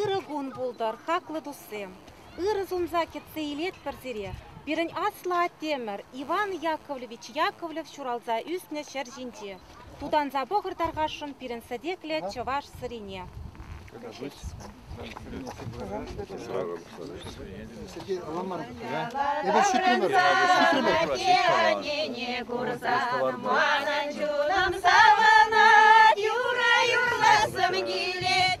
Ырӑ кун пултӑр, хаклӑ туссем! Ырӑ сунса кӗтсе илетпӗр сире пирӗн аслӑ аттемӗр Иван Яковлевич Яковлев ҫуралса ӳснӗ ҫӗр ҫинче. Тутанса пӑхӑр тархасшӑн пирӗн сӗтеклӗ чӑваш сӑрине. Сергей, ала мар. Эпӗ ҫитрӗмӗр. Ҫине курсан манӑн чунӑм савӑнать, юра юрласам килет.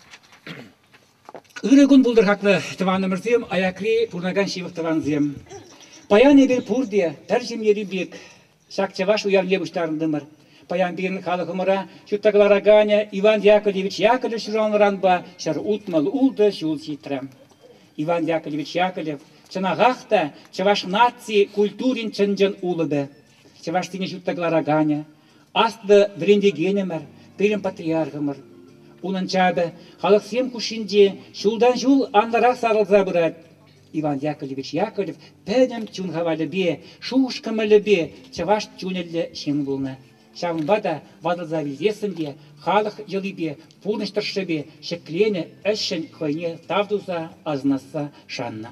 Ырӑ кун пултӑр-хакнӑ тӑванӑмӑрсем, аякри пурӑнакан ҫывӑх тӑвансем. Паян эпир пурте пӗр ҫемьери пек ҫак чӑваш уявне пуҫтарӑнтӑмӑр. Паян пирӗн халӑхӑмӑра ҫутта кӑлараканӗ Иван Яковлевич Яковлев ҫуралнӑранпа ҫӗр утмӑл ултӑ ҫул ҫитрӗ. Иван Яковлевич Яковлев чӑнахах та чӑваш наци культурин чӑн-чӑн улӑпӗ, чӑвашсене ҫутта кӑлараканӗ, Аслӑ вӗрентекенӗмӗр, пирӗн патриархӑмӑр. Унӑн чапӗ халӑхсем хушшинче ҫултан-ҫул анлӑрах сарӑлса пырать. Иван Яковлевич Яковлев пӗтӗм чун хавалӗпе, шухӑш-кӑмӑлӗпе чӑваш чунӗллӗ ҫын пулнӑ. Ҫавӑнпа та ватӑлса вилсессӗн те халӑх йӑлипе, пурнӑҫ тӑршшӗпе ҫӗкленӗ ӗҫшӗн хӑйне тав туса, асӑнасса шаннӑ.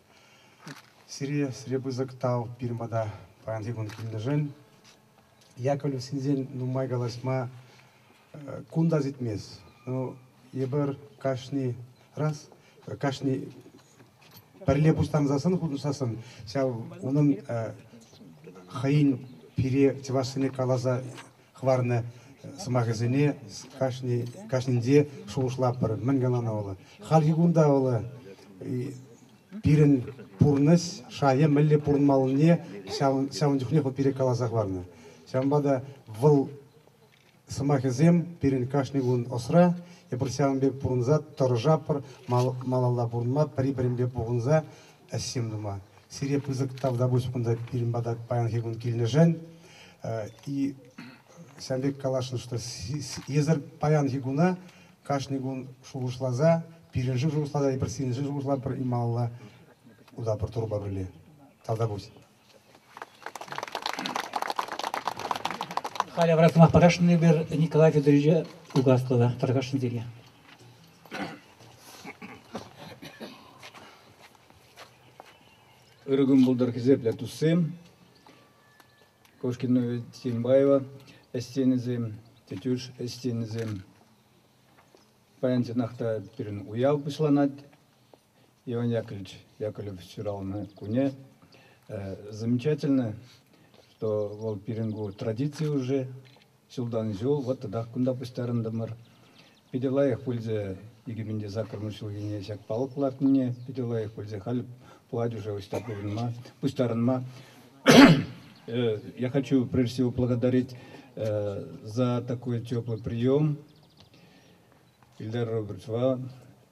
Сире, сире пысӑк тав пирӗн пата паянхи кун килнӗшӗн. Яковлевсенсен нумай калаҫма кун та ситмест. Ну, эпир кашни раз кашни пӗрле пуҫтарӑнсассӑн, хутшӑнсассӑн ҫав унӑн хӑйӗн пире чӑвашсене каласа хӑварнӑ сӑмахӗсене кашнинче шухӑшлатпӑр. Мӗншӗн ӑна вӑл? Хальхи кунта вӑл пирӗн пурнӑҫ шайӗ мӗнле пурӑнмаллине ҫавӑн чухнех вӑл пире каласа хӑварнӑ. Ҫавӑнпа та вӑл сӑмахӗсем пирӗн кашни кун ӑсра. Эпир ҫавӑн пек пурӑнса тӑрӑшатпӑр, малалла пурӑнма, пӗри-пӗринпе пухӑнса ӗҫсем тума. Сире пысӑк тавтапуҫ кунта пирӗн пата паянхи кун килнӗшӗн. И ҫавӑн пек каласшӑн, что эсӗр паянхи куна кашни кун шухӑшласа, пирӗншӗн шухӑшласа, эпир сирӗншӗн шухӑшлатпӑр, Ималла, Удапур турпа пӗрле. Тавтапуҫ. Халӗ вара сӑмах парасшӑн эпир Николай Федоровича Угаслова тархасшӑн тенӗ. Ыргӑм пултар хисеплӗ туссем. Кошкина Тинбаева ӗстенӗсем, тетюш ӗстенӗсем. Паян чӑнах та пирӗн уяв пуҫланать. Иван Яковлевич Яковлев ҫуралнӑ куне замечательно, что вӑл пирӗн ку традици уже ҫултан ҫул вот тӑтах кунта пуҫтарӑнтӑмӑр. Питӗ лайӑх пулчӗ 2040 ҫулхине ҫак палӑк лартнине, питӗ лайӑх пулчӗ халь пулать уже ӑҫта пурӑнма, пуҫтарӑнма. Я хочу прежде всего благодарить за такой теплый прием Ильдар Робертовича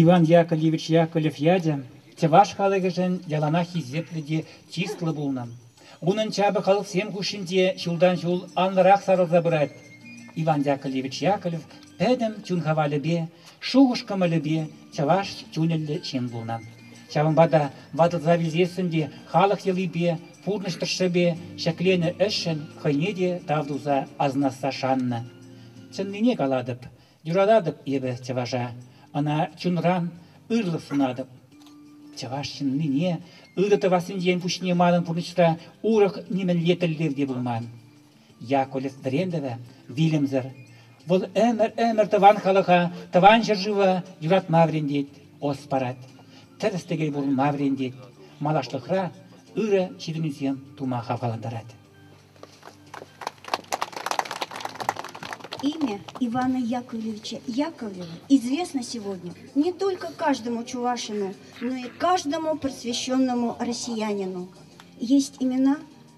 Иван Яковлевич Яковлев ячӗ чӑваш халӑхӗшӗн яланах хисеплӗ те чыслӑ пулнӑ. Унӑн чапӗ халӑхсем хушшинче ҫултан-ҫул анлӑрах сарӑлса пырать. Иван Яковлевич Яковлев пӗтӗм чун хавалӗпе, шухӑш-кӑмӑлӗпе чӑваш чунӗллӗ ҫын пулнӑ. Ҫавӑнпа та ватӑлса вилсессӗн те халӑх йӑлипе, Пурнӑҫ тӑршшӗпе ҫӗкленӗ ӗҫшӗн хӑйне те тав туса асӑнасса шаннӑ. Чӑннине калатӑп, юрататӑп эпӗ чӑваша, ӑна чунран ырӑлӑх сунатӑп. Чӑваш ҫыннине ырӑ тӑвассинчен пуҫне манӑн пурнӑҫра урӑх нимӗнле тӗллев те пулман. Якуль Дремлева вилӗмсӗр. Вӑл ӗмӗр-ӗмӗр тӑван халӑха, тӑван ҫӗршыва юратма вӗрентет, ӑс парать, тӗрӗс-тӗкел пурӑнма вӗрентет, малашлӑхра ырӑ ҫитӗнӳсем тума хавхалантарать. Имя Ивана Яковлевича Яковлева известно сегодня не только каждому чувашину, но и каждому просвещенному россиянину. Есть имена,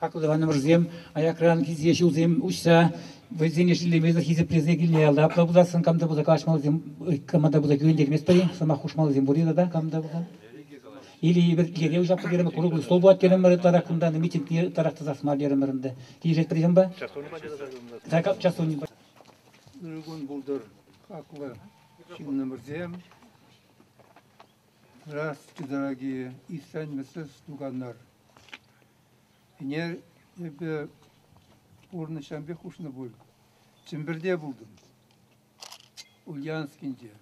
Хаклӑ тӑванӑмӑрсем, аякран килсе ҫулсем уҫса вӑйсене шеллемесӗр хисеплесе килнӗ ялта апла пуласшӑн кам та пулса калаҫмаллисем, кама та пулса кӳрентерместпӗр-и? Сӑмах хушмаллисем пур-и тата кам та пулса? Или эпир киле уҫатпӑр терӗмӗр, курӑклӑ стол пулать терӗмӗр ытларах кунта, митингне ытларах тӑсас мар терӗмӗр ӗнтӗ. Килӗшетпӗр ҫынпа? Час курма тӑрӑшатӑн. Час курни. Ыр кун пултӑр, хаклӑ. Ҫыннӑмӑрсем «Здравствуйте, дорогие! Истренмесес туканнар!» ӗне эпӗ пурнӑҫранпех хушнӑ пуль. Чӗмпӗрте пултӑм, Ульяновскинче.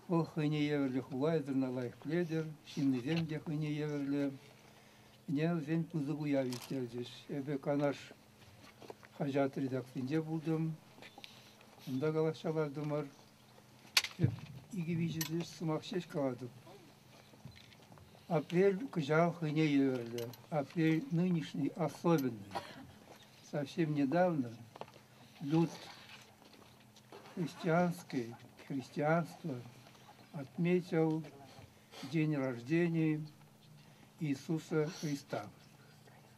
Вӑл хӑйне евӗрлӗ хула ятӑрна лайӑх пӗлетӗр, ҫыннисем те хӑйне евӗрлӗ. Ӗне вӗсен пысӑк уяв ирттерчӗҫ. Эпӗ Канаш хаҫат редакцийӗнче пултӑм. Унта калаҫса лартӑмӑр. Тӗп икӗ-виҫӗ сӑмах ҫеҫ калатӑп. Апрель кӑҫал хӑйне евӗрлӗ. Апрель нынешний особенный. Совсем недавно люд христианский, христианство отметил день рождения Иисуса Христа.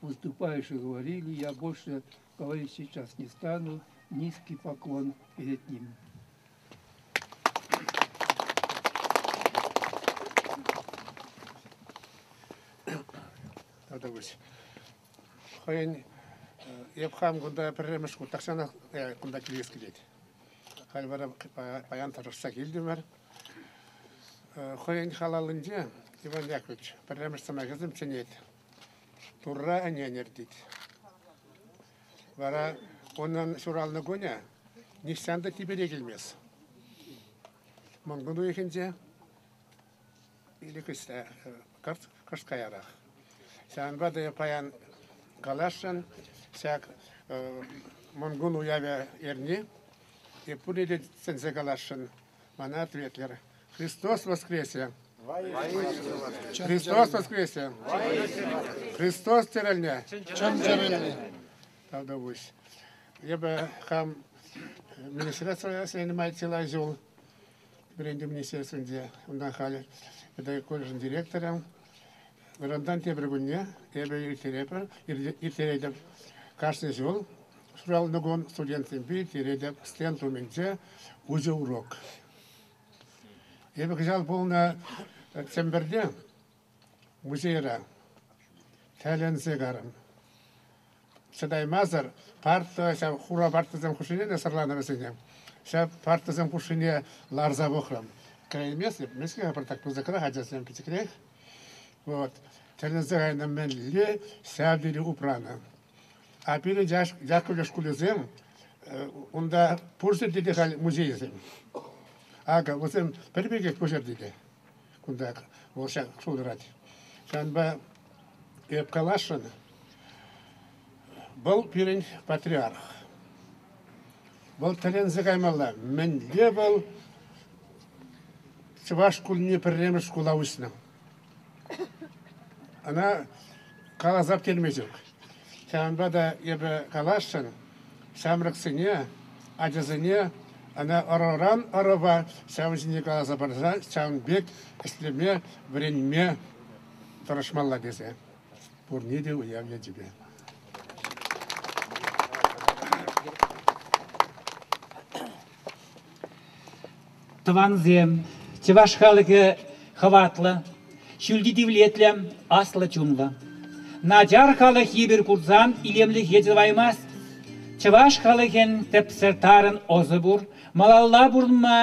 Выступающие говорили, я больше говорить сейчас не стану, низкий поклон перед ним. Тадабыш. Хойын эп хам кунда пӗрремеш кун тахсанах кунда килес килет. Халь вара паян тӑрӑшса килтӗмӗр. Хойын халалынче Иван Яковлевич пӗрремеш сӑмахӗсем чӗнет. Турра ӗнен иртет. Вара унӑн ҫуралнӑ кунӗ нихҫан та типӗре килмест. Мӑнкун уйӑхӗнче ирӗкӗсте кӑшт каярах. Ҫавӑнпа та паян каласшӑн, ҫак Мӑнкун уявӗ эрни. Пурне те сӗнсе каласшӑн, Мана ответлер. Христос воскресе! Христос воскресе! Христос тӗрӗлне! Чӑн тӗрӗлне! Тавтапуҫ. Эпӗ хам министерство занимать чылай ҫул вӗрентӳ министерствинче, унтан халь педагогика колледжӗн директором. Вырӑнтан тепӗр кунне эпӗ ирттеретӗп. Кашни ҫул ҫуралнӑ кун студентсемпе ирттеретӗп стенд умӗнче уҫӑ урок. Эпӗ кӑҫал пулнӑ Сӗмпӗрте музейра тӗлӗнсе карӑм. Чӑтаймасӑр парта ҫав хура партӑсем хушшине те сӑрланӑ вӗсене. Ҫав партӑсем хушшине ларса пӑхрӑм. Кӗреймест эп, мӗскер пӑртак пысӑкрах ачасем пӗчӗкрех. Вот. Тӗлӗнсе кайнӑ мӗнле ҫав тери упранӑ. А пирӗн Яккӑльӑш шкулӗсем, унта пур ҫӗрте те халь музейсем. Акӑ, вӗсем пӗр пекех пуҫӑрти те. кунта вӑл ҫак ҫул тӑрать. Ҫавӑнпа эп каласшӑн, вӑл пирӗн патриарх. Вӑл тӗлӗнсе каймалла. Мӗнле вӑл чӑваш шкулне пӗрремӗш шкула уҫнӑ? Ӑна каласа пӗтерме ҫук. Ҫавӑнпа та эпӗ каласшӑн, ҫамрӑксене, ачасене ӑна ӑрӑран ӑрӑва ҫавӑн ҫине каласа парса ҫавӑн пек ӗҫлеме, вӗренме тӑрӑшмалла тесе пурне те уяв ячӗпе. Тӑвансем, чӑваш халӑхӗ хӑватлӑ, ҫӳлти тивлетлӗ, аслӑ чунлӑ. Начар халӑх йывӑр курсан илемлӗхе тӑваймасть. Чӑваш халӑхӗн тӗпсӗр тарӑн ӑсӗ пур, малалла пурӑнма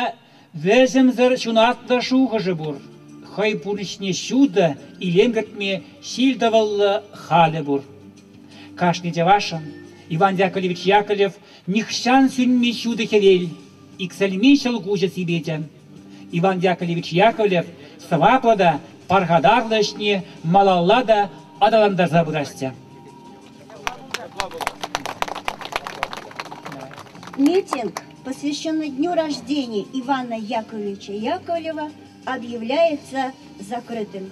вӗсӗмсӗр ҫунатлӑ шухӑшӗ пур. Хӑй пурнӑҫне ҫутӑ, илем кӗртме ҫил-тӑвӑллӑ халӗ пур. Кашни чӑвашӑн Иван Яковлевич Яковлев нихҫан сӳнми ҫутӑ хӗвел. Иксӗлми ҫӑлкуҫӗ сипечӗ. Иван Яковлевич Яковлев сӑваплӑ та пархатарлӑ ӗҫне малалла та аталантарса пырасчӗ. Митинг, посвященный дню рождения Ивана Яковлевича Яковлева, объявляется закрытым.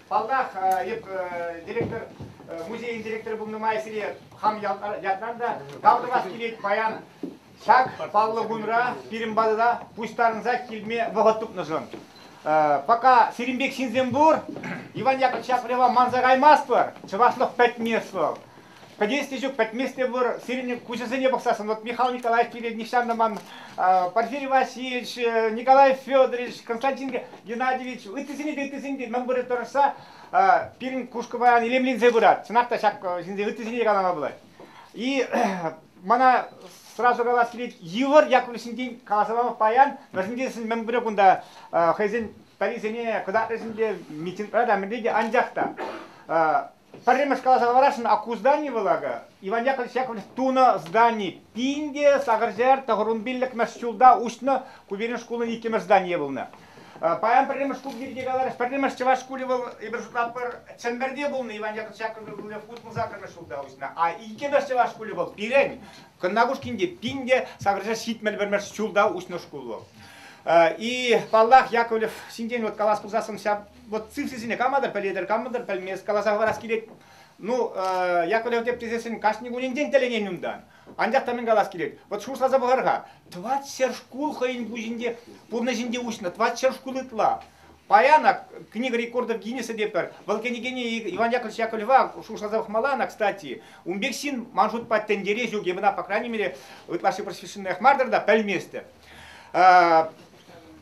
Паллах, эп директор, музейӗн директорӗ пулнӑ май сире хам ятлар та тав тӑвас килет паян. Ҫак паллӑ кунра пирӗн патӑна пуҫтарӑнса килме вӑхӑт тупнӑшӑн. Пока сирӗн пек ҫынсем пур, Иван Яковлевича прева манса каймастпӑр, чӑвашлӑх пӗтмест вӑл. Надеюсь, те ҫук, пӗтмест те пулӑр. Сирӗн куҫӑсене пӑхсассӑн, вот Михаил Николаевич пирӗн нихҫан та ман Порфирий Васильевич, Николай Федорович, Константин Геннадьевич, ыттисене те, ыттисене те мӗн вырӑн тӑрӑшса пирӗн кушкӑ паян илемленсе пырать. Чӑнах та ҫак ҫынсен ыттисене те калама пулать. И мана сразу калас килет, йывӑр Яковлевсенчен каласа пама паян, вӗсенчен мӗн пуре кунта хӑйсен пӗрисене кӑтартрӗсен те, митингра та, мӗнле те, анчах та Пӗрремӗш каласа хӑварасшӑн, а ку здани вӑл акӑ Иван Яковлевич Яковлевич тунӑ здани. Пин те сакӑрҫӗр тӑхӑрун пиллӗкмӗш ҫулта уҫнӑ ку пирӗн шкулӑн иккӗмӗш зданийӗ пулнӑ. Паян пӗрремӗш шкул пирки каларӗҫ. Пӗрремӗш чӑваш шкулӗ вӑл, эпир шутлатпӑр, Чӗмпӗрте пулнӑ. Иван Яковлевич Яковлев хутмӑл саккӑрмӗш ҫулта уҫнӑ. А иккӗмӗш чӑваш шкулӗ вӑл пирӗн Кӑннакушкинте пин те сакӑрҫӗр ҫитмӗл пӗрмӗш ҫулта уҫнӑ шкул вӑл. И паллах, Яковлев ҫинчен вот калас пулсассӑн ҫав вот симсисене каматӑр пӗлетӗр, камӑнтӑр пӗлмест, каласа хӑварас килет. Ну, Яковлев теп тесессӗн кашни кунӗнчен тӗлӗнен унтан. Анчах та мӗн калас килет, вот шутласа пӑхар-ха, 20 шкул хӑйӗн пуҫӗнче, пурнӑҫӗнче уҫнӑ, 20 шкул ытла. Паян ак книга рекордов Гиннесса тепӗр, вӑл кӗнекене Иван Яковлевич Яковлева шутласа пӑхмалла ӑна, кстати. Ун пек ҫын, ман шутпа, тӗнчере ҫук, эпӗ ӑна, по крайней мере, ытлашши просвещенноях мар-тӑр та, пӗлместӗп.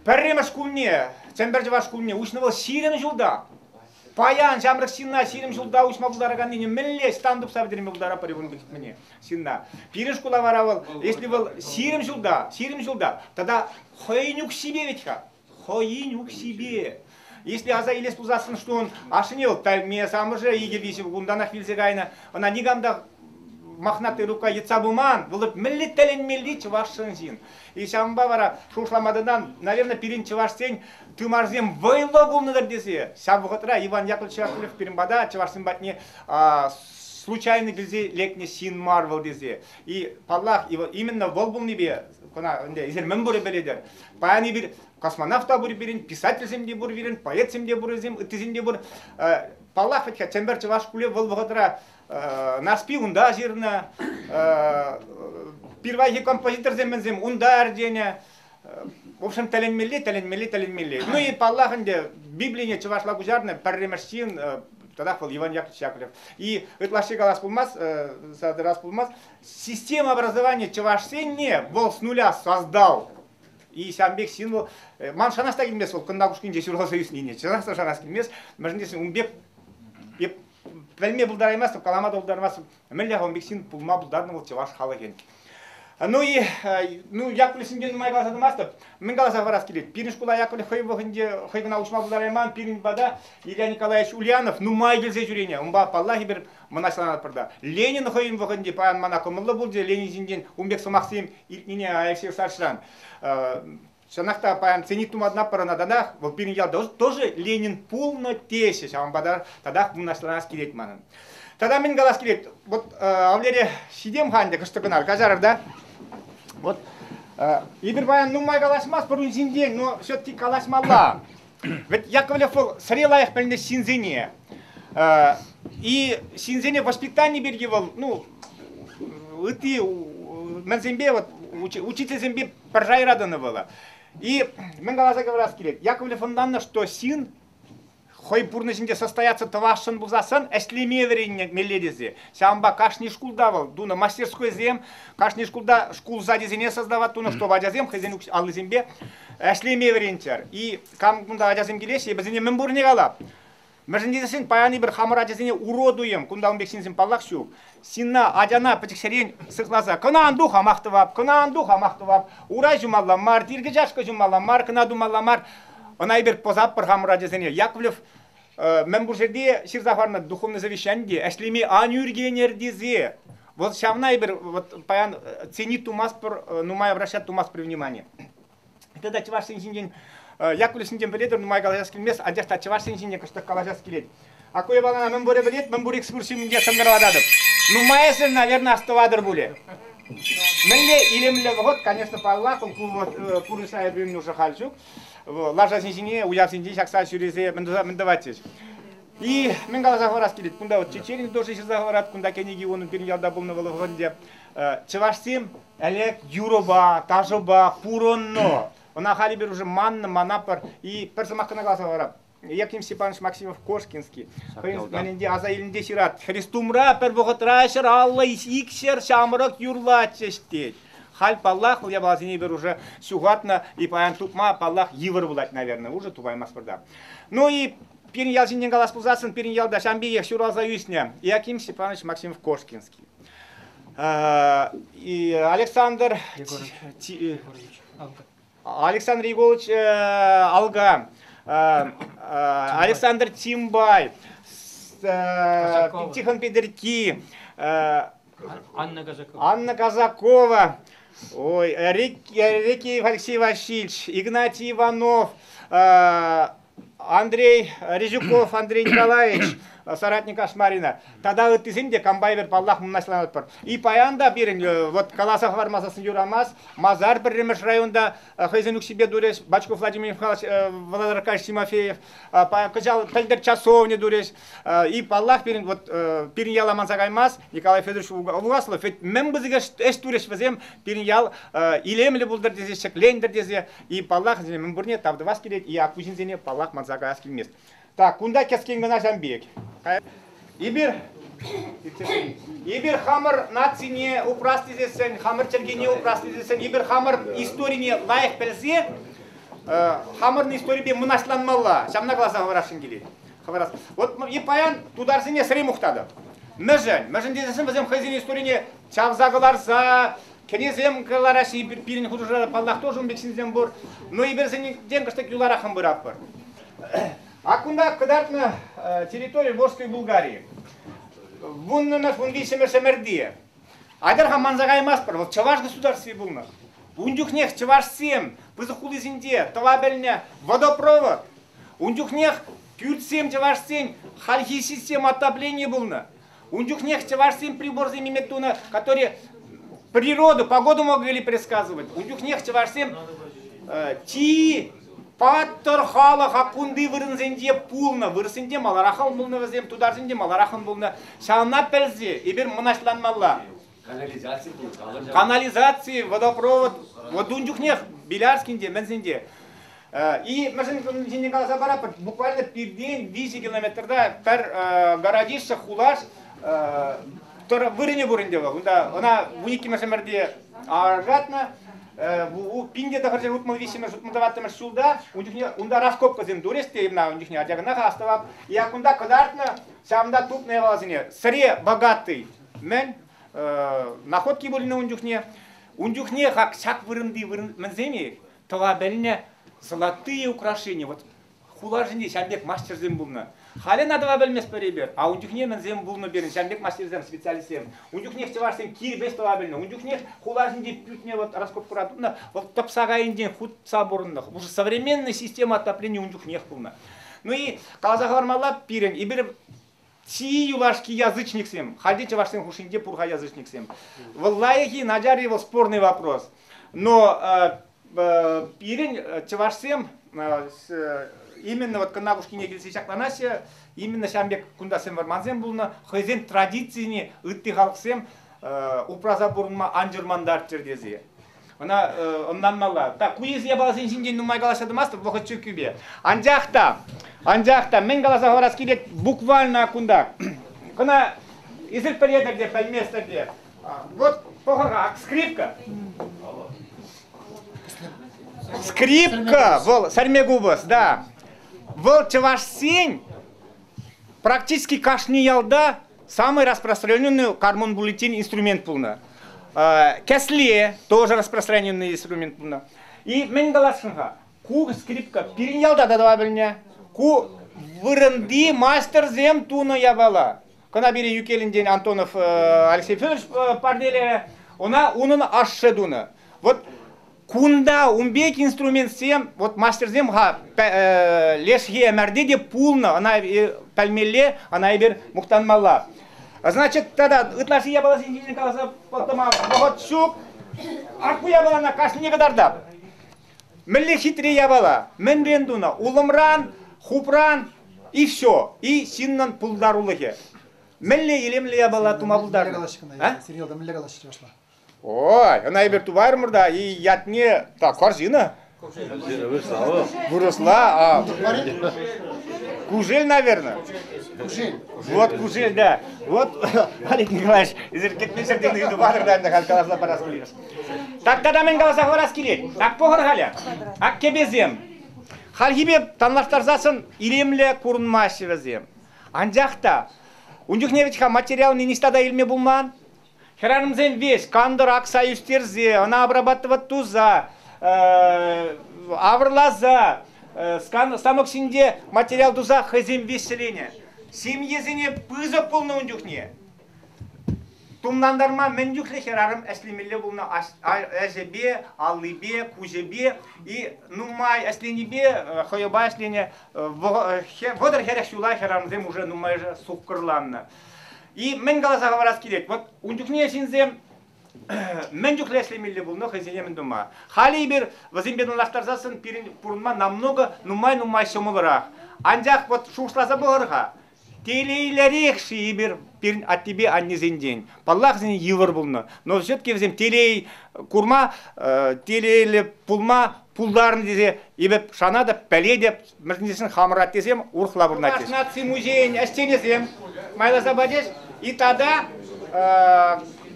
Пӗрремӗш шкулне, Чӗмпӗр чӑваш шкулне уҫнӑ вӑл ҫирӗм ҫулта. Паян ҫамрӑк ҫынна ҫирӗм ҫулта уҫма пултараканнине мӗнле стан тупса пӗтерме пултаратпӑр ребенка кӗтмене ҫынна. Пирӗн шкула вара вӑл, если вӑл ҫирӗм ҫулта, ҫирӗм ҫулта, тата хӑйӗн укҫипе ведь-ха, хӑйӗн укҫипе. Если аса илес пулсассӑн, что он ошенил, ме самӑршӗ икӗ виҫӗ кунтанах вилсе кайнӑ, ӑна никам та махнатый рука йӑтса пыман, вӑл мӗнле тӗлӗнмелли чӑвашшӑн ҫын. И ҫавӑнпа вара шухӑшламатӑнан, наверное, пирӗн чӑвашсен тымарсем вӑйлӑ пулнӑ-тӑр тесе ҫав вӑхӑтра Иван Яковлевич Шатырев пирӗн пата чӑвашсем патне случайно килсе лекнӗ ҫын мар вӑл тесе. И паллах, именно вӑл пулнипе кӑна ӗнтӗ эсир мӗн пурӗ пӗлетӗр. Паян эпир Космонавт та пур пирӗн, писательсем те пур пирӗн, поэтсем те пур вӗсем, ыттисем те пур. Паллах, ведь Чемпер чӑваш шкулӗ вӑл вӑхӑтра Нарспи унта ҫырнӑ, пирвайхи композиторсем мӗнсем унта ӗрченӗ. В общем, тӗлӗнмелли, тӗлӗнмелли, тӗлӗнмелли. Ну и паллах ӗнтӗ, Библине чӑвашла куҫарнӑ пӗрремӗш ҫын, тӑрах вӑл Иван Яковлев. И ытлашши калас пулмасть, раз пулмасть, система образования чӑвашсенне вӑл с нуля создал И ҫавӑн пек ҫын вӑл, ман шанас та килмест вӑл Кӑнтакушкинче ҫуралса ӳснине, чӑнах та шанас килмест, мӗншӗн тесен ун пек эп пӗлме пултараймастӑп, калама та пултармастӑп, мӗнле ун пек ҫын пулма пултарнӑ вӑл чӑваш халӑхӗн. Ну и ну Яковлев Синдеевне майпа сатӑмастӑп. Мӗн каласа парас килет? Пирӗн шкула Яковлев хӑй вӑхӑтӗнче хӑй кӑна уҫма пултарайман. Пирӗн пата Илья Николаевич Ульянов нумай килсе ҫӳренӗ. Унпа паллахи пӗр мӑнаҫланатпӑр та. Ленин хӑйӗн вӑхӑтӗнче паян мана кӑмӑллӑ пулчӗ Ленин ҫинчен ун пек сӑмахсем илтнине Алексей Ивановичран. Чӑнах та паян ценник туматӑнатпӑр ӑна татах. Вӑл пирӗн ял тоже Ленин пулнӑ теҫҫӗ. Ҫавӑнпа та татах мӑнаҫланас килет манӑн. Тата мӗн калас килет? Вот Валерия ҫитем-ха ӗнтӗ кӑштӑ кӑна каҫарӑр та. Вот эпир паян нумай калаҫмастпӑр ун ҫинчен, но все-таки калаҫмалла. Ведь Яковлев был сре лайӑх пӗлнӗ ҫынсене. И ҫынсене воспитани пирки вӑл, ну, ытти мӗнсемпе вот учительсемпе пӗр шайра тӑнӑ вӑл. И мӗн каласа кӑларас килет, Яковлев ӑнланнӑ, что сын хӑй пурнӑҫӗнче состояться тӑвасшӑн пулсассӑн ӗҫлеме вӗренмелле тесе. Ҫавӑнпа кашни шкулта вӑл тунӑ мастерскойсем, кашни шкулта шкул сачӗсене создавать тунӑ, чтобы ачасем хӑйсен аллисемпе ӗҫлеме вӗренччӗр. И кам кунта ачасем килеҫҫӗ, вӗсене мӗн пуррине калап. Мӗншӗн тесен паян эпир хамӑр ачасене урод туйӑм, кунта ун пек ҫынсем паллах ҫук. Ҫынна, ачана пӗчӗкҫӗрен сыхласа кӑна ан ту хамах тӑвап, кӑна ан ту хамах тӑвап, урай ҫумалла мар, тиркӗ-чашкӑ ҫумалла мар, кӑна тумалла мар. Ӑна эпир пӑсатпӑр хамӑр ачасене. Яковлев Мӗнпур ҫӗрте ҫырса хӑварнӑ духовный совещани ӗҫлеме ан ӳркенӗр тесе вот ҫавна эпир вот паян ценить тумастпӑр, нумай обращать тумастпӑр внимание. Это чӑвашсен ҫинчен Якуль ҫинчен пӗлетӗр, нумай калаҫас килмест, анчах та чӑвашсен ҫинчен кӑштах калаҫас килет. А кое балана мӗн пурӗ пӗлет, мӗн пур экскурси ҫумӗнче шӑнкӑравлататӑп. Нумайӑсӗ, наверное, остыватӑр пулӗ. Мӗнле илемлӗ вӑхӑт, конечно, паллах, ку вот курса эпир нуша халь ҫук. лашасен ҫине уявсенче ҫакса ҫӳресе мӗн тӑватчӗҫ. И мӗн каласа хӑварас килет, кунта вот чечерин дожи ҫырса хӑварат, кунта кӗнеки унӑн пирӗн ялта пулнӑ вӑл вӑхӑтӗнче. Чӑвашсем ӗлӗк юрӑпа, ташӑпа пурӑннӑ. Ӑна халӗ пӗр уже маннӑ, манапӑр. И пӗр сӑмах кӑна каласа хӑварам. Яким Степанович Максимов Кошкинский хӑйӗн романӗнче аса илнӗ ҫырать. Хрестумра пӗр вӑхӑтра ҫӗр аллӑ икҫер ҫамрӑк юрлатчӗҫ тет. Халь паллах вӑл япаласене пӗр уже ҫухатнӑ и паян тупма паллах йывӑр пулать, наверное, уже тупаймастпӑр Ну и пирӗн ял ҫинчен калас пулсассӑн пирӗн ялта ҫам пекех ҫуралса ӳснӗ Иаким Степанович Максимов Кошкинский. И Александр Егорович. Александр Егорович Алга, Александр Тимбай, Тихон Педерки, Анна Казакова. Анна Казакова, ой, Рики Алексей Васильевич, Игнатий Иванов, Андрей Резюков, Андрей Николаевич, соратник Ашмарина. Тата ыттисем те комбайнер паллах мӑнаҫланатпӑр. И паян та пирӗн э, вот каласа хӑвармасассӑн юрамас, масар пӗрремӗш районта э, хӑйсен укҫипе турӗҫ, Бачков Владимир Михайлович, э, Владимир Аркадьевич Тимофеев, кӑҫал пӗлтӗр часовня турӗҫ. И паллах пирӗн вот пирӗн яла манса каймас, Николай Федорович Угаслов, мӗн бызыгаш ӗҫ турӗҫ вӗсем, пирӗн ял илемлӗ пултӑр тесе, ҫӗклентӗр тесе, И паллах, мӗн пурне тав тӑвас килет, и ку ҫынсене паллах манса каяс килмест. Так, кунта кӗскен кӑна ҫавӑн пек. Эпир Эпир хамӑр нацине упрас тесессӗн, хамӑр чӗлхене упрас тесессӗн, эпир хамӑр историне лайӑх пӗлсе, хамӑрӑн историпе мӑнаҫланмалла. Ҫавна каласа хӑварасшӑн килет. Хӑварас. Вот и паян тутарсене сӗре мухтатӑп. Мӗншӗн? Мӗншӗн тесессӗн вӗсем хӑйсен историне чавса кӑларса, Кӗресем кӑлараҫҫӗ пирӗн хушӑра, паллах, тоже ун пек ҫынсем пур. Но эпирсеннен кӑштах юлараххӑн пыратпӑр. Ак кунта кӑтартнӑ территори Волжской Булгарии. Вуннӑмӗш, вун виҫҫӗмӗш ӗмӗрти. Атьӑр-ха манса каймастпӑр, вӑл чӑваш государстви пулнӑ. Ун чухнех чӑвашсем пысӑк хулисенче тӑва пӗлнӗ водопровод. Ун чухнех кӳртсем, чӑвашсен хальхи система отопления пулнӑ. Ун чухнех чӑвашсем приборсем иметь тунӑ, которые природу, погоду могли предсказывать. Ун чухнех чӑвашсем э, чи паттӑр халӑха кунти вырӑнсенче пулнӑ, вырӑсенче малараххан пулнӑ вӗсем, тутарсенче малараххан пулнӑ. Ҫавна пӗлсе эпир мӑнаҫланмалла. Канализаци, водопровод, вот ун чухнех Белярскин те, мӗнсен те. И мӗшӗн ҫинчен каласа параппӑр, буквально пиртен виҫӗ километрта пӗр городище хулаш тӑр вырӑнӗ пур ӗнтӗ вӑл. Унта ӑна вун иккӗмӗш ӗмӗрте аркатнӑ. Ву пинте тӑхӑрҫӗ утмӑл виҫҫӗмӗш утмӑл тӑваттӑмӗш ҫулта ун чухне унта раскопкӑсем турӗҫ те ӑна ун чухне ача кӑна астӑвап. Yak унта кӑтартнӑ ҫавӑнта тупнӑ япаласене. Сӗре богатый Мӗн, находки пулнӑ ун чухне. Ун чухне как ҫак вырӑнти вырӑн мӗнсем-и? Тӑва пӗлнӗ золотые украшения. Вот хуларсенче ҫав пек мастерсем пулнӑ. Халӗ ӑна тӑва пӗлместпӗр эпир. А ун чухне мӗнсем пулнӑ пирӗн ҫав пек мастерсем, специалистсем? Ун чухнех чӑвашсем кирпӗч тӑва пӗлнӗ. Ун чухнех хуласенче пӳртне вот раскопкӑра тунӑ, вот тӑпса кайнинчен хутса пурӑннӑ. Уже современная система отопления ун чухнех пулнӑ. Ну и каласа хӑвармалла, пирӗн эпир Чи юлашки язычниксем, халь те чӑвашсен хушшинче пур-ха язычниксем. Вӑл лайӑх-и, начар-и вӑл спорный вопрос. Но э, пирӗн э, чӑвашсем э, именно вот Кӑнавушкине килсе ҫакланаҫҫӗ, именно ҫавӑн пек кунтасем вӑрмансем пулнӑ, хӑйсен традицине ытти халӑхсем упраса пурӑнма ан чӑрмантарччӑр тесе. Ӑна ӑнланмалла. Так, куйӗс япаласен ҫинчен нумай калаҫса тӑмастӑп вӑхӑт чиркӳпе. Анчах та, анчах та мӗн каласа хӑварас килет буквально кунта. Кӑна эсир пӗлетӗр те, пӗлместӗр те. Вот похорак, скрипка. Скрипка, вӑл сәрме купӑс, да. Вӑл чӑвашсен практически кашни ялта Самый распространенный гормон бюллетень инструмент пулнӑ. Кәсле тоже распространенный инструмент пулнӑ. И мӗн каласшӑн-ха? Ку скрипка пирӗн ялта та тӑва пӗлнӗ. Ку вырӑнти мастерсем тунӑ япала. Кӑна пирӗн Юкелӗнтен Антонов Алексей Федорович парнелерӗ. Ӑна унӑн ашшӗ тунӑ. Вот Кунта ун пек инструментсем, вот мастерсем-ха лешхи ӗмӗрте те пулнӑ, ӑна пӗлмелле, ӑна эпир мухтанмалла. Значит, тогда ытлашши япаласен ҫинчен каласа пӑтӑма вӑхӑт ҫук. Ак ку япалана кашни кӑтартап. Мӗнле хитре япала? Мӗнрен тунӑ? Улӑмран, хупран и все. И ҫыннӑн пултарулӑхӗ. Мӗнле илемлӗ япала тума пултарнӑ? Сергей мӗнле калаҫрӗ чӑвашла? Ой, ӑна эпир тупаймӑр та, и ятне так корзина. Выросла, а кужель, наверное. Кужель. Вот кужель, да. Вот, Олег Николаевич, эсир кӗтнӗ ҫӗрте ыйту патӑр да ӗнтӗ каласа парас килеш. Так когда мӗн каласа хӑварас килет? Так пӑхӑр халӗ. Аккепесем. Хальхипе танлаштарсассӑн илемле курӑнмаҫҫӗ вӗсем. Анчах та ун чухне ведь материал не ниҫта та илме пулман. Хӗрарӑмсем веҫ кантӑр акса ӳстерсе, ӑна обрабатывать туса, авӑрласа, станок ҫинче материал туса хӑйсем веҫленӗ. Ҫемьесене пысӑк пулнӑ ун чухне. Тумлантарма мӗн чухлӗ хӗрарӑм ӗҫлемелле пулнӑ ӗҫӗпе, аллипе, куҫӗпе и нумай ӗҫленипе хӑйӑпа ӗҫленӗ вӑтӑр хӗрех ҫула хӗрарӑмсем уже нумайӑшӗ суккӑрланнӑ. И мӗн каласа хӑварас килет, вот ун чухне ҫынсем мӗн чухлӗ ӗҫлемелле пулнӑ хӑйсене мӗн тума. Халӗ эпир вӗсемпе танлаштарсассӑн пирӗн пурӑнма намного нумай-нумай ҫӑмӑлрах. Анчах вот шухӑшласа пӑхӑр-ха, телейлӗрех-ши эпир пирӗн аттепе аннесенчен? Паллах, вӗсен йывӑр пулнӑ, но все-таки вӗсем телей курма, телейлӗ пулма пултарнӑ тесе эпир шанатӑп, пӗлетӗп. Мӗрснесен хамӑр аттесем урӑхла пурӑнатчӗҫ. Наци музейӗн ӗҫченӗсем майласа пачӗҫ. И тата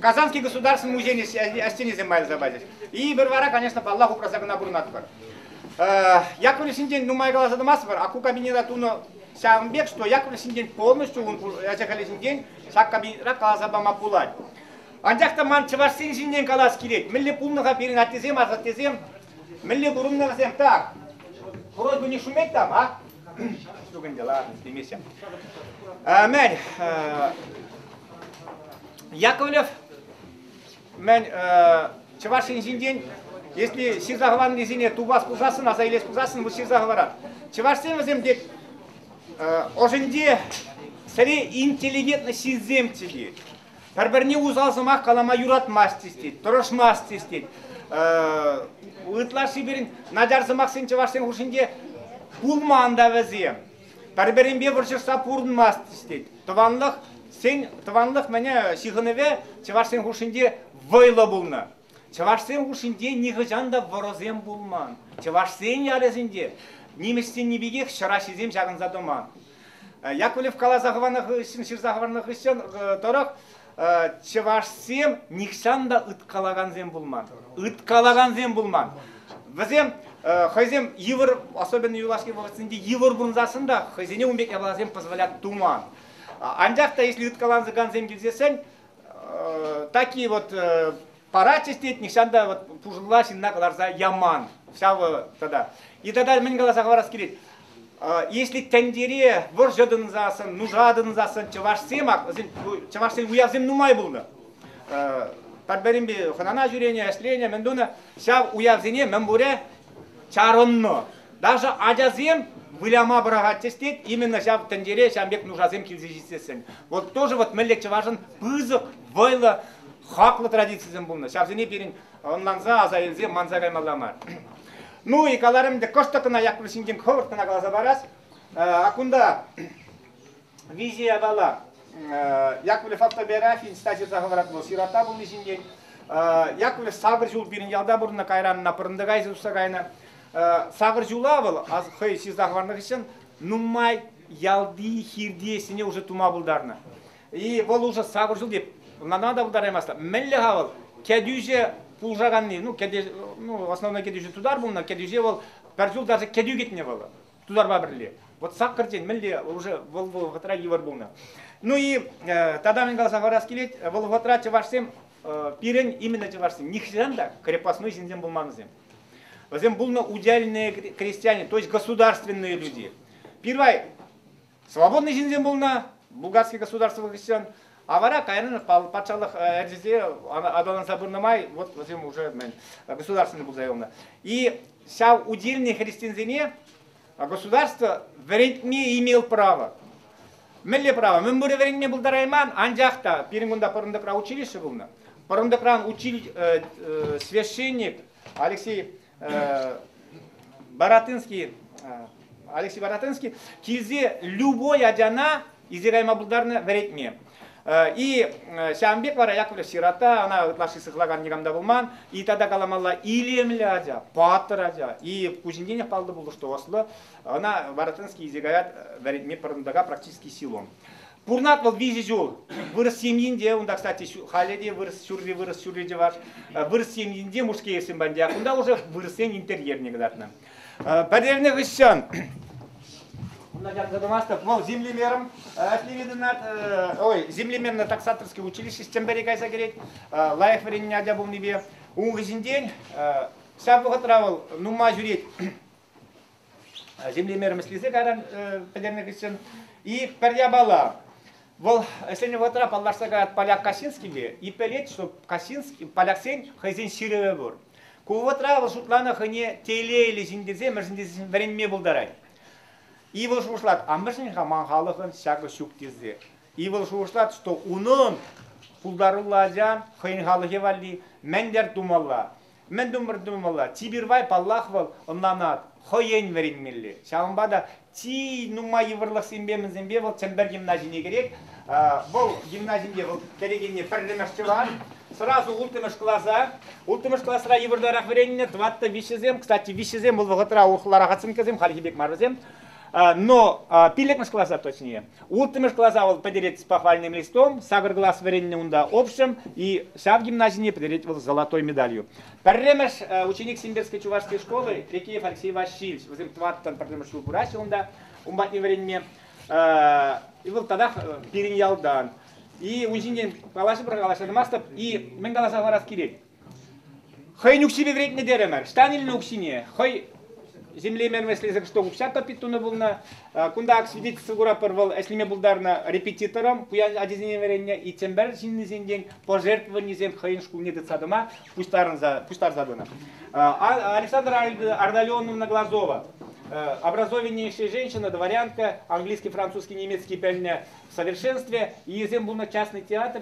Казанский государственный музейӗн ӗҫченӗсем майласа пачӗҫ. Ийпӗр вара, конечно, паллах, упраса кӑна пурӑнатпӑр. Яковлев ҫинчен нумай каласа тӑмастпӑр, а ку кабинета тунӑ ҫавӑн пек, что Яковлев ҫинчен полностью ун ӗҫӗ-хӗлӗ ҫинчен ҫак кабинетра каласа пама пулать. Анчах та ман чӑвашсен ҫинчен калас килет, мӗнле пулнӑ-ха пирӗн аттесем, асаттесем Мӗнле пурӑннӑ вӗсем так? Хурой кунне шумет-там, а? Ҫук ӗнтӗ, ладно, стремимся. Мен Яковлев, мен Чӑваш Енҫинчен, если ҫырса хӑваннисене тупас пулсассӑн, аса илес пулсассӑн, вӑл ҫырса хӑварар. Чӑвашсем вӗсем тек ӑшӗнче сӗре интеллигентно ҫынсемччӗ Пӗр-пӗрне усал сӑмах калама юратмасть тет, тӑрӑшмасть тет. Ытлашши пирӗн начар сӑмахсен чӑвашсен хушшинче пулман та вӗсем. Пӗр-пӗринпе вӑрҫӑшса пурӑнмасть тет. Тӑванлӑх, сен тӑванлӑх мӗне ҫыхӑнӑвӗ чӑвашсен хушшинче вӑйлӑ пулнӑ. Чӑвашсем хушшинче нихӑҫан та вӑрӑсем пулман. Чӑвашсен ялӗсенче нимӗҫсенни пекех ҫӑраҫҫисем ҫакӑнса тӑман. Яковлев каласа хӑварнӑ хыҫҫӑн ҫырса хӑварнӑ хыҫҫӑн тӑрӑх чӑвашсем нихҫан та ыткалакансем пулман. Ыткалакансем пулман. Вӗсем хӑйсем йывӑр, особенно юлашки вӑхӑтсенче йывӑр пурӑнсассӑн та хӑйсене ун пек япаласем позволять туман. Анчах та если ыткалансакансем килсессӗн такие вот парать ӗҫлет, нихҫан та вот пушӑлла ҫынна кӑларса яман. Ҫавӑ тата. И тогда мӗн каласа хӑварас килет, если тӗнчере вӑрҫӑ тӑнсассӑн, нуша тӑнсассӑн чӑвашсем, чӑвашсен уявсем нумай пулнӑ. Пӗр-пӗринпе хӑнана ҫӳренӗ, ӗҫленӗ, мӗн тунӑ. Ҫав уявсене мӗн пурӗ чарӑннӑ. Даже ачасем выляма пӑрахатчӗҫ тет, именно ҫав тӗнчере ҫав пек нушасем килсе ҫитсессӗн. Вот тоже вот мӗнле чӑвашӑн пысӑк, вӑйлӑ, хаклӑ традицисем пулнӑ. Ҫавсене пирӗн ӑнланса, аса илсе манса каймалла мар. Ну и каларӑм ӗнтӗ, кӑштӑк кӑна Якур ҫинчен хӑвӑрт кӑна каласа парас. Э, а кунта виҫӗ япала. Яковлев автобиографийӗн ҫта ҫырса хӑварать вӑл сирота пулни ҫинчен. Яковлев сакӑр ҫул пирӗн ялта пурӑннӑ, кайран ӑна Пӑрӑнтӑкайсем уҫса кайнӑ. Сакӑр ҫула вӑл хӑй ҫырса хӑварнӑ хыҫҫӑн нумай ялти хирти ӗҫсене уже тума пултарнӑ. И вӑл уже сакӑр ҫул теп, ӑнланма та пултараймастӑ. Мӗнле-ха вӑл кӗтӳҫӗ пулӑшаканни, ну, кӗтӳ, ну, основной кӗтӳҫӗ тутар пулнӑ, кӗтӳҫе вӑл пӗр ҫул даже кӗтӳ кӗтнӗ вӑл. тутарпа пӗрле. Вот саккӑртен мӗнле уже вӑл вӑхӑтра йывӑр пулнӑ. Ну и э, тата мӗн каласа парас килет, вӑл вӑхӑтра чӑвашсем э, пирӗн именно чӑвашсем нихҫан та крепостной ҫынсем пулманӑсем. Вӗсем пулнӑ удельные крестьяне, то есть государственные люди. Первое, Свободный ҫынсем пулнӑ булгарский государство хыҫҫӑн, а вара кайран патшалӑх ӗрчесе аталанса пынӑ май вот вӗсем уже мӗн, государственный пулса юлнӑ. И ҫав удельный христиансене государство вӗрентме имел право. Мӗнле право? Мӗн пурӗ вӗренме пултарайман, анчах та пирӗн кунта пӑрӑнтӑкра училище пулнӑ. Пӑрӑнтӑкран училищ, священник Алексей Баратынский, Алексей Баратынский килсе любой ачана изирайма пултарнӑ вӗретме. И ҫавӑн пек вара Яковлев сирата, она ытлашши сыхлакан никамда пулман, и тогда каламалла илемлӗ ача, паттӑр ача. И Кузьминтинев паллӑ пулды, что осло, она Баратынский изигает вӗретме пӑрӑнтака практически силом. Пурӑнать вӑл виҫӗ ҫул. Вырӑс ҫемйинче, унта, кстати, халӗ те вырӑс ҫурри, вырӑс ҫурри чӑваш. Вырӑс ҫемйинче Мушкеевсем пандя. Кунта уже вырӑссен интерьерне кӑтартнӑ. Пӗтернӗ хыҫҫӑн Кунта ярса тӑмастӑп. Вӑл землемером ӗҫлеме тытӑнать. Ой, землеменное таксаторское училище Чӗмпӗре кайса кӗрет. Лайӑх вӗреннӗ ача пулнипе. Ун хыҫӗнчен ҫав вӑхӑтра вӑл нумай ҫӳрет. землемер мӗслесе кайран пӗтернӗ хыҫҫӑн и пӗр япала вӑл ӗҫленӗ вӑхӑтра паллашса каять поляк Касинскийпе и пӗлет, что Касинский поляксен хӑйсен ҫырӑвӗ пур. Ку вӑхӑтра вӑл шутланӑ хӑйне тейлейлӗ ҫын тесе мӗншӗн тесе вӗренме пултарать. И вӑл шухӑшлать, а мӗншӗн-ха ман халӑхӑн ҫакӑ ҫук тесе. И вӑл шухӑшлать, что унӑн пултаруллӑ ача хӑйӗн халӑхӗ валли мӗнлер тумалла. Мӗн тумӑр тумалла? Тибирвай, паллах, вӑл ӑнланать, хӑйӗн вӗренмелле. Ҫавӑнпа та чи нумай йывӑрлӑхсемпе мӗнсемпе вӑл Чӗмпӗр гимназине кӗрет. Вӑл гимназинче вӑл кӗрекене пӗрремӗш тӑван, сӑрасу улттӑмӗш класа. Улттӑмӗш класра йывӑртарах вӗреннӗ, тӑваттӑ виҫҫӗсем. Кстати, виҫҫӗсем вӑл вӑхӑтра урӑхла рахатсенккесем, хальхи пек мар вӗсем. Но пиллӗкмӗш класра, точнее, Улттӑмӗш класа вӑл пӗтерет похвальным листом, сакӑр класс вӗреннӗ унта общем, и ҫав гимназине пӗтерет вӑл золотой медалью. Пӗрремӗш ученик Симбирской чувашской школы Рекеев Алексей Васильевич, вӗсем тӑваттӑн пӗрремӗш ҫул пыраҫҫӗ унта, ун патне вӗренме. Вӑл татах пирӗн ялтан. И ун ҫинчен калаҫӑпӑр, калаҫа тӑмастӑп. И мӗн каласа хӑварас килет? хӑйӗн укҫипе вӗрентнӗ терӗмӗр ҫтан илнӗ укҫине хӑй землемен вӗҫлесех что укҫа топить тунӑ пулнӑ кунта ак свидетельство куратпӑр вӑл ӗҫлеме пултарнӑ репетиторӑм пуян ачасене вӗреннӗ и Чӗмпӗр ҫыннисенчен пожертвованисем хӑйӗн шкулне тытса тӑма пуҫтарӑнса пуҫтарса тунӑ Александра Ардалионовна Глазова образование ӗҫле женщина дворянка английский французский немецкий пӗлнӗ в совершенстве ийӗсем пулнӑ частный театр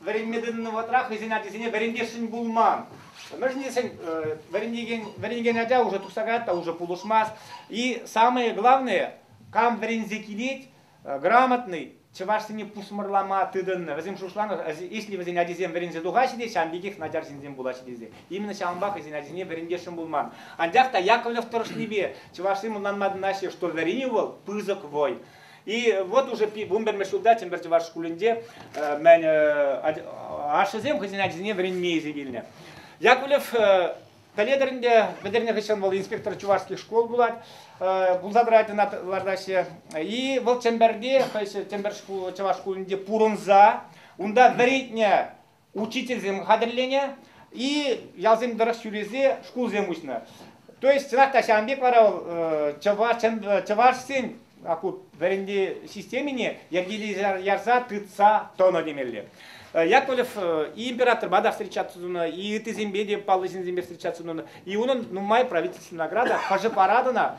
вӗренме тытӑннӑ вӑхӑтра хӑйсен ачисене вӗрентесшӗн пулман. Мӗшӗн тесен э, вӗренекен, вӗренекен ача уже тухса каять та уже пулӑшмасть. И самое главное, кам вӗренсе килет, э, грамотный, чӑвашсене пусмӑрлама тытӑннӑ. Вӗсем шушланӑ, если вӗсен ачисем вӗренсе тухаҫҫӗ те, ҫавӑн пекех начар ҫынсем пулаҫҫӗ тесе. Именно ҫавӑнпа хӑйсен ачисене вӗрентесшӗн пулман. Анчах та Яковлев тӑрӑшнипе чӑвашсем ӑнланма тытӑнаҫҫӗ, что вӗренӳ вӑл пысӑк вой. И вот уже вунпӗрмӗш ҫулта Чӗмпӗр чӑваш шкулӗнче ашшӗсем хӑйсен ачисене вӗренме илсе килнӗ. Яковлев пӗлетӗр ӗнтӗ, пӗтернӗ хыҫҫан вӑл инспектор чувашских школ пулать, пулса тӑрать ӑна лартаҫҫӗ. И вӑл Чӗмпӗрти, хӑй Чӗмпӗр шкул, чӑваш шкулӗнче пурӑнса, унта вӗрентнӗ учительсем хатӗрленӗ и ялсем тӑрӑх ҫӳресе шкулсем уҫнӑ. То есть чӑнах та ҫавӑн пек вара вӑл чӑваш, чӑвашсен вӗренте системине йӗркелесе ярса тытса тӑнӑ темелле. Яковлев и императорпа та встречаться тунӑ, и ыттисемпе те паллӑ ҫынсемпе встречаться тунӑ. И унӑн нумай правительственная награда хӑшӗ паратӑна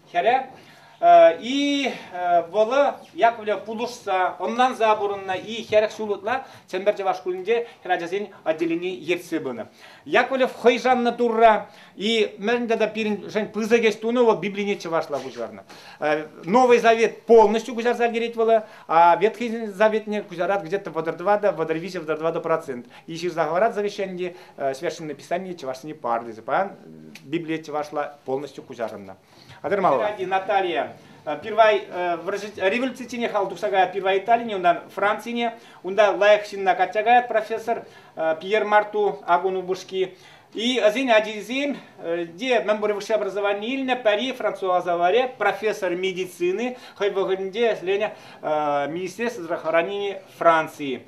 Хӗрӗ и вӑлӑ Яковлев пулӑшса, ӑнланса пурӑннӑ-и хӗрӗх ҫул ытла Чӗмпӗр чӑваш шкулӗнче хӗр ачасен отделени ертсе пынӑ. Яковлев хӑй шаннӑ Турра и мӗн тата пирӗншӗн пысӑк ӗҫ тунӑ вӑл Библине чӑвашла куҫарнӑ. Новый Завет полностью куҫарса ӗлкӗрет вӑл, а Ветхий Заветне куҫарать где-то вӑтӑр тӑватӑ, вӑтӑр виҫӗ, вӑтӑр тӑватӑ процент. И ҫырса хӑварать завещание, Священное Писание чӑвашсене пар тесе паян Библие чӑвашла полностью куҫарӑннӑ. Атӑрмалла. Наталья, первай революцине хал тухса каят первай Италине, ундан Францине, унта лайӑх ҫынна качча каят профессор Пьер Марту агун упӑшки. И ӑсен ачисем те мӗн пур высшее образование илнӗ, пӗри француз аваре, профессор медицины, хӑй вӑхӑтӗнче ӗҫленӗ министерство здравоохранения Франции.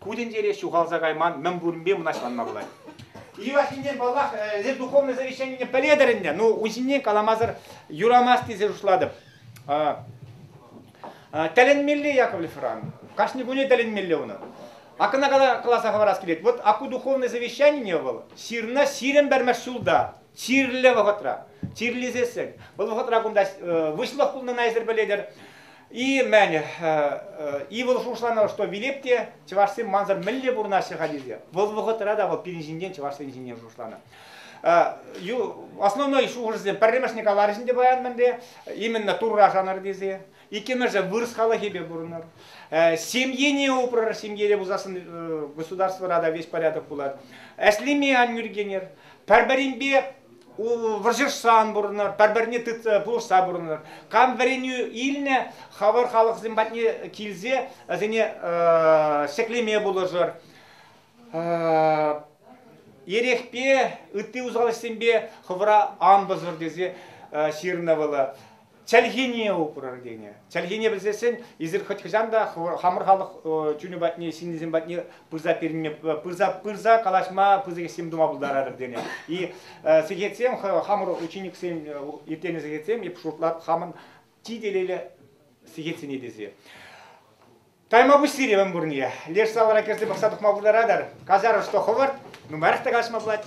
Ку тӗнчере ҫухалса кайман мӗн пуринпе мӑнаҫланма пулать. Юлашкинчен, паллах, эс духовное завещанине пӗлетӗр ӗнтӗ. Ну, ун ҫине каламасӑр юрамасть тесе шутлатӑп. Тӗлӗнмелле Яковлев Иван. Кашни куне тӗлӗнмелле унӑн. А кӑна каласа хӑварас килет. Вот аку духовное завещание вӑл ҫырнӑ ҫирӗм пӗрмӗш ҫулта, чирлӗ вӑхӑтра. Чирлесессӗн, вӑл вӑхӑтра кунта выҫлӑх пулнине эсир пӗлетӗр. И мӗн, ывӑл шухӑшланӑ, что вилеп те чӑвашсем мансӑр мӗнле пурӑнаҫҫӗ-ха тесе. Вӑл вӑхӑтра та вӑл пирӗн ҫинчен, чӑвашсен ҫинчен шухӑшланӑ. Основной шухӑшӗсем пӗрремӗшне каларӗҫ ӗнтӗ паян мӗнле, именно Турра шанӑр тесе. Иккӗмӗшӗ вырӑс халӑхӗпе пурӑнӑр. Семьене упрӑр, ҫемьере пулсассӑн государствӑра та весь порядок пулать. Ӗҫлеме ан нӳркенӗр. Пӗр-пӗринпе вӑрҫӑшсан пурӑнар, пӗр-пӗрне тытса пулӑшса пурӑнар. Кам вӗренӳ илнӗ, хӑвӑр халӑхсем патне килсе вӗсене ҫӗклеме пулӑшӑр. Эрехпе, ытти усал ӗҫсемпе хӑвӑра ан пӑсӑр тесе ҫырнӑ вӑл. чӗлхине упрӑр тенӗ. Чӗлхине пӗлсессен эсир хӑть хӑҫан та хамӑр халӑх чунӗ патне, ҫыннисем патне пырса перме, пырса пырса калаҫма пысӑк ӗҫсем тума пултаратӑр тенӗ. И сехетсем хамӑр учениксем ирттернӗ сехетсем эп шутлап хамӑн чи телейлӗ сехетсене тесе. Тайма пуҫлире мӗн пурне. Леш салара кӗрсе пӑхса тухма пултаратӑр. Казаров что ховард, нумаях та калаҫма пулать.